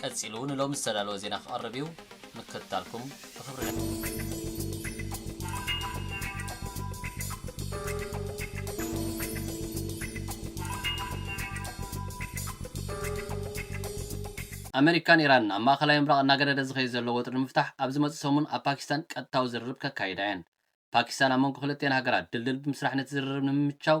ቀጺሉ ንሎሚ ዝተዳለወ ዜና ክቐርብ እዩ። ምክትታልኩም ብኽብሪ ንዕድም። ኣመሪካን ኢራንን ኣብ ማእኸላይ ምብራቕ እናገደደ ዝኸይድ ዘሎ ወጥሪ ንምፍታሕ ኣብ ዝመፅእ ሰሙን ኣብ ፓኪስታን ቀጥታዊ ዝርርብ ከካይዳ እየን። ፓኪስታን ኣብ መንጎ ክልቲኣን ሃገራት ድልድል ብምስራሕ ነቲ ዝርርብ ንምምችቻው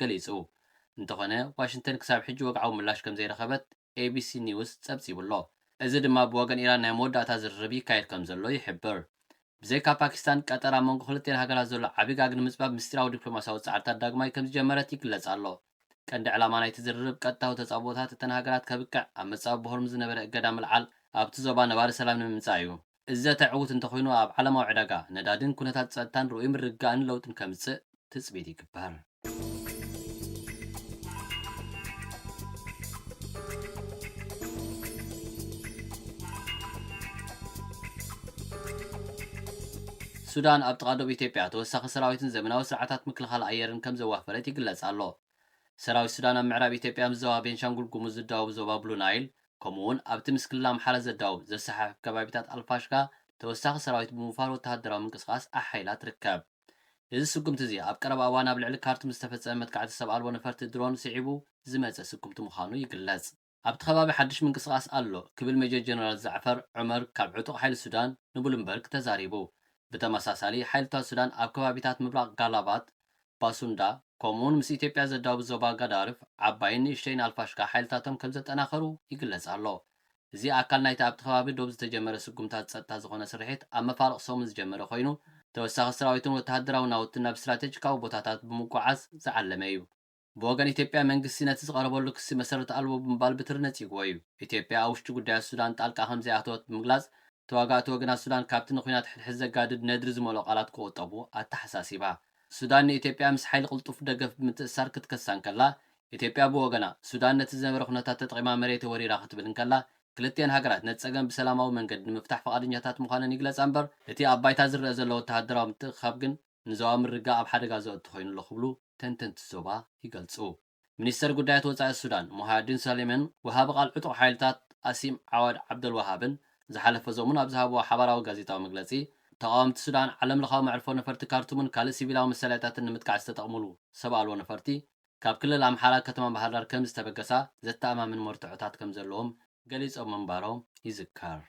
ገሊጹ። እንተኾነ ዋሽንተን ክሳብ ሕጂ ወግዓዊ ምላሽ ከምዘይረኸበት ኤቢሲ ኒውስ ጸብጺቡ'ሎ። እዚ ድማ ብወገን ኢራን ናይ መወዳእታ ዝርርብ ይካየድ ከምዘሎ ይሕብር። ብዘይካ ፓኪስታን፣ ቀጠር ኣብ መንጎ ክልቲኤን ሃገራት ዘሎ ዓቢ ጋግ ንምጽባብ ምስጢራዊ ዲፕሎማስያዊ ጻዕርታት ዳግማይ ከምዝጀመረት ይግለጽ ኣሎ። ቀንዲ ዕላማ ናይቲ ዝርርብ ቀጥታዊ ተጻብኦታት እተን ሃገራት ከብቅዕ ኣብ መጻብቦ ሆርሙዝ ዝነበረ እገዳ ምልዓል ኣብቲ ዞባ ነባሪ ሰላም ንምምጻእ'ዩ። እዚ ዘተ ዕዉት እንተኾይኑ ኣብ ዓለማዊ ዕዳጋ ነዳዲን ኩነታት ፀጥታን ርኡይ ምርግጋእን ለውጢን ከምፅእ ትፅቢት ይግበር። ሱዳን ኣብ ጥቓ ዶብ ኢትዮጵያ ተወሳኺ ሰራዊትን ዘመናዊ ስርዓታት ምክልኻል ኣየርን ከምዘዋፈረት ይግለፅ ኣሎ። ሰራዊት ሱዳን ኣብ ምዕራብ ኢትዮጵያ ምስ ዞባ ቤንሻንጉል ጉሙዝ ዝዳወብ ዞባ ብሉ ናይል ከምኡ'ውን ኣብቲ ምስ ክልል ኣምሓራ ዘዳውብ ዘሰሓሕብ ከባቢታት ኣልፋሽጋ ተወሳኺ ሰራዊት ብምውፋር ወተሃደራዊ ምንቅስቓስ ኣሐይላ ትርከብ። እዚ ስጉምቲ'ዚ ኣብ ቀረባ እዋን ኣብ ልዕሊ ካርቱም ዝተፈጸመ መጥቃዕቲ ሰብ ኣልቦ ነፈርቲ ድሮን ስዒቡ ዝመጸ ስጉምቲ ምዃኑ ይግለጽ። ኣብቲ ከባቢ ሓድሽ ምንቅስቓስ ኣሎ ክብል ሜጀር ጀነራል ዛዕፈር ዑመር ካብ ዕጡቕ ሓይሊ ሱዳን ንቡሉምበርግ ተዛሪቡ። ብተመሳሳሊ ሓይልታት ሱዳን ኣብ ከባቢታት ምብራቕ ጋላባት፣ ባሱንዳ፣ ከምኡ'ውን ምስ ኢትዮጵያ ዘዳውብ ዞባ ጋዳርፍ፣ ዓባይን ንእሽተይን ኣልፋሽጋ ሓይልታቶም ከምዘጠናኸሩ ይግለጽ ኣሎ። እዚ ኣካል ናይቲ ኣብቲ ከባቢ ዶብ ዝተጀመረ ስጉምታት ጸጥታ ዝኾነ ስርሒት ኣብ መፋርቕ ሰሙን ዝጀመረ ኮይኑ፣ ተወሳኺ ስራዊትን ወተሃደራዊ ናውትን ናብ ስትራተጂካዊ ቦታታት ብምጉዓዝ ዝዓለመ'ዩ። ብወገን ኢትዮጵያ መንግስቲ ነቲ ዝቐረበሉ ክሲ መሰረት ኣልቦ ብምባል ብትሪ ነጺግዎ እዩ። ኢትዮጵያ ኣብ ውሽጢ ጉዳያት ሱዳን ጣልቃ ከምዘይኣተወት ብምግላጽ፣ ተዋጋእቲ ወገናት ሱዳን ካብቲ ንኲናት ሕድሕድ ዘጋድድ ነድሪ ዝመልኦ ቃላት ክቑጠቡ ኣተሓሳሲባ። ሱዳን ንኢትዮጵያ ምስ ሓይሊ ቅልጡፍ ደገፍ ብምትእስሳር ክትከሳ እንከላ፣ ኢትዮጵያ ብወገና፣ ሱዳን ነቲ ዝነበረ ኩነታት ተጠቒማ መሬተይ ወሪራ ክትብል እንከላ፣ ክልቲኤን ሃገራት ነቲ ጸገም ብሰላማዊ መንገዲ ንምፍታሕ ፍቓደኛታት ምዃነን ይግለጻ እምበር፣ እቲ ኣብ ባይታ ዝረኣ ዘሎ ወተሃደራዊ ምትእኽኻብ ግን ንዞባ ምርግጋእ ኣብ ሓደጋ ዘእቱ ኮይኑ ኣሎ ክብሉ ተንተንቲ ዞባ ይገልጹ። ሚኒስተር ጉዳያት ወጻኢ ሱዳን ሙሃያዲን ሳሊምን ወሃቢ ቃል ዕጡቕ ሓይልታት ኣሲም ዓዋድ ዓብደልወሃብን ዝሓለፈ ሰሙን ኣብ ዝሃብዎ ሓባራዊ ጋዜጣዊ መግለጺ፣ ተቓወምቲ ሱዳን ዓለምለኻዊ መዕርፎ ነፈርቲ ካርቱምን ካልእ ሲቪላዊ መሳለያታትን ንምጥቃዕ ዝተጠቕሙሉ ሰብ ኣልቦ ነፈርቲ ካብ ክልል ኣምሓራ ከተማ ባህርዳር ከምዝተበገሳ ዘተኣማምን መርትዖታት ከምዘለዎም ገሊጾም ምንባሮም ይዝከር።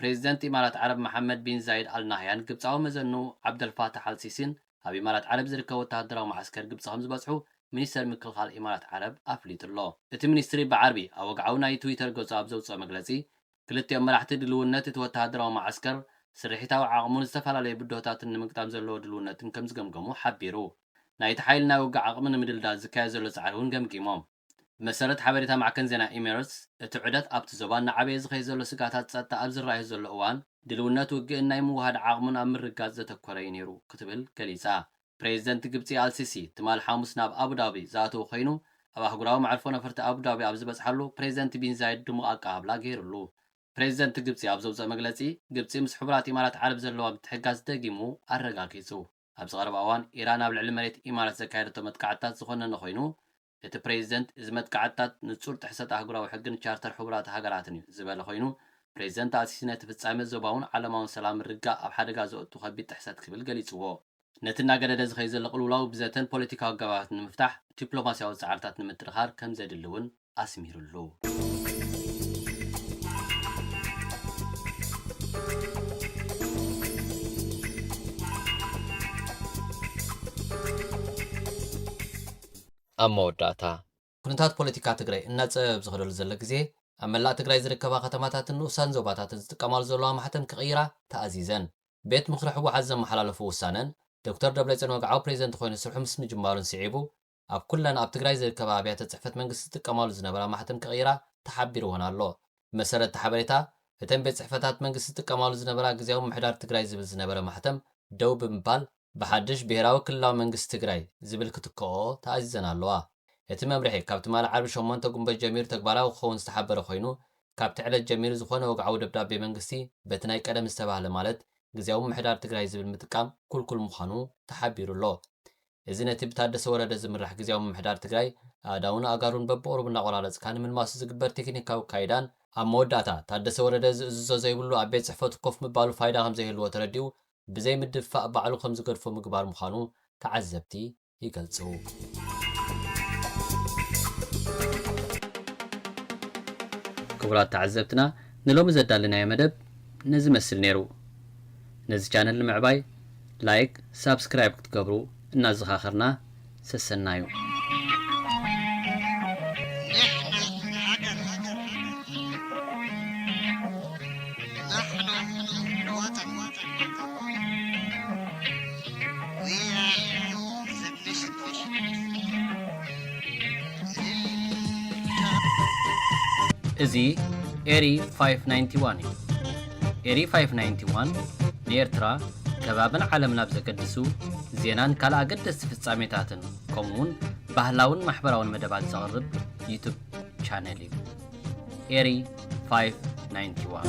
ፕሬዚደንት ኢማራት ዓረብ መሓመድ ቢን ዛይድ ኣል ናህያን ግብጻዊ መዘንኡ ዓብደልፋታሕ ኣል ሲሲን ኣብ ኢማራት ዓረብ ዝርከብ ወተሃደራዊ መዓስከር ግብጺ ከምዝበጽሑ ሚኒስተር ምክልኻል ኢማራት ዓረብ ኣፍሊጡ'ሎ። እቲ ሚኒስትሪ ብዓርቢ ኣብ ወግዓዊ ናይ ትዊተር ገጹ ኣብ ዘውጽኦ መግለጺ፣ ክልቲኦም መራሕቲ ድልውነት እቲ ወተሃደራዊ መዓስከር፣ ስርሒታዊ ዓቕሙን ዝተፈላለዩ ብድሆታትን ንምግጣም ዘለዎ ድልውነትን ከምዝገምገሙ ሓቢሩ። ናይቲ ሓይሊ ናይ ውግእ ዓቕሚ ንምድልዳል ዝካየድ ዘሎ ጻዕሪ'ውን ገምጊሞም። ብመሰረት ሓበሬታ ማዕከን ዜና ኤሚረትስ፣ እቲ ዑደት ኣብቲ ዞባ እናዓበየ ዝኸይድ ዘሎ ስግኣታት ጸጥታ ኣብ ዝረኣዮ ዘሎ እዋን፣ ድልውነት ውግእን ናይ ምውህሃድ ዓቕሙን ኣብ ምርግጋጽ ዘተኮረ'ዩ ነይሩ ክትብል ገሊጻ። ፕሬዚደንት ግብፂ ኣልሲሲ ትማል ሓሙስ ናብ ኣቡዳቢ ዝኣተወ ኮይኑ ኣብ ኣህጉራዊ መዕርፎ ነፈርቲ ኣቡዳቢ ኣብ ዝበፅሓሉ ፕሬዚደንት ቢን ዛይድ ድሙቕ ኣቀባብላ ገይሩሉ። ፕሬዚደንት ግብፂ ኣብ ዘውፀኦ መግለፂ ግብፂ ምስ ሕቡራት ኢማራት ዓረብ ዘለዋ ምትሕግጋዝ ደጊሙ ኣረጋጊፁ። ኣብዚ ቀረባ እዋን ኢራን ኣብ ልዕሊ መሬት ኢማራት ዘካየደቶ መጥቃዕትታት ዝኾነነ ኮይኑ እቲ ፕሬዚደንት እዚ መጥቃዕትታት ንፁር ጥሕሰት ኣህጉራዊ ሕግን ቻርተር ሕቡራት ሃገራትን እዩ ዝበለ ኮይኑ ፕሬዚደንት ኣልሲሲ ነቲ ፍፃሜ ዞባውን ዓለማውን ሰላም ምርግጋእ ኣብ ሓደጋ ዘእቱ ከቢድ ጥሕሰት ክብል ገሊፅዎ። ነቲ እናገደደ ዝኸይድ ዘሎ ቅልውላው ብዘተን ፖለቲካዊ ኣገባባትን ንምፍታሕ ዲፕሎማሲያዊ ፃዕርታት ንምጥንኻር ከምዘድሊ እውን ኣስሚርሉ። ኣብ መወዳእታ። ኩነታት ፖለቲካ ትግራይ እናፀበበ ኣብ ዝኸደሉ ዘሎ ግዜ፣ ኣብ መላእ ትግራይ ዝርከባ ከተማታትን ንኡሳን ዞባታትን ዝጥቀማሉ ዘለዋ ማሕተም ክቕይራ ተኣዚዘን ቤት ምኽሪ ህወሓት ዘመሓላለፉ ውሳነን ዶክተር ደብረፅዮን ወግዓዊ ፕሬዚደንት ኮይኑ ስርሑ ምስ ምጅማሩን ስዒቡ ኣብ ኩለን ኣብ ትግራይ ዝርከባ ኣብያተ ፅሕፈት መንግስቲ ዝጥቀማሉ ዝነበራ ማሕተም ክቕይራ ተሓቢሩወን ኣሎ። ብመሰረት እቲ ሓበሬታ፣ እተን ቤት ፅሕፈታት መንግስቲ ዝጥቀማሉ ዝነበራ ግዝያዊ ምምሕዳር ትግራይ ዝብል ዝነበረ ማሕተም ደው ብምባል፣ ብሓድሽ ብሄራዊ ክልላዊ መንግስቲ ትግራይ ዝብል ክትክኦኦ ተኣዚዘን ኣለዋ። እቲ መምርሒ ካብ ትማሊ ዓርቢ ሸሞንተ ጉንበት ጀሚሩ ተግባራዊ ክኸውን ዝተሓበረ ኮይኑ፣ ካብቲ ዕለት ጀሚሩ ዝኾነ ወግዓዊ ደብዳቤ መንግስቲ በቲ ናይ ቀደም ዝተባህለ ማለት ግዝያዊ ምምሕዳር ትግራይ ዝብል ምጥቃም ኩልኩል ምዃኑ ተሓቢሩ ኣሎ። እዚ ነቲ ብታደሰ ወረደ ዝምራሕ ግዝያዊ ምምሕዳር ትግራይ ኣእዳዉን ኣእጋሩን በብቑሩብ እናቖራረፅካ ንምልማሱ ዝግበር ቴክኒካዊ ኣካይዳን ኣብ መወዳእታ ታደሰ ወረደ ዝእዝዞ ዘይብሉ ኣብ ቤት ፅሕፈቱ ኮፍ ምባሉ ፋይዳ ከምዘይህልዎ ተረዲኡ ብዘይ ምድፍፋእ ባዕሉ ከምዝገድፎ ምግባር ምዃኑ ተዓዘብቲ ይገልፁ። ክቡራት ተዓዘብትና ንሎሚ ዘዳለናዮ መደብ ነዚ መስል ነይሩ። ነዚ ቻነል ንምዕባይ ላይክ ሳብስክራይብ ክትገብሩ እናዘኻኸርና ሰሰናዩ። እዚ ኤሪ ፋይፍ ናይንቲ ዋን እዩ። ኤሪ ፋይፍ ናይንቲ ዋን ንኤርትራ ከባብን ዓለምን ኣብ ዘገድሱ ዜናን ካልእ ኣገደስቲ ፍጻሜታትን ከምኡውን ባህላውን ማሕበራውን መደባት ዘቕርብ ዩቱብ ቻነል እዩ። ኤሪ ፋይፍ ናይንቲ ዋን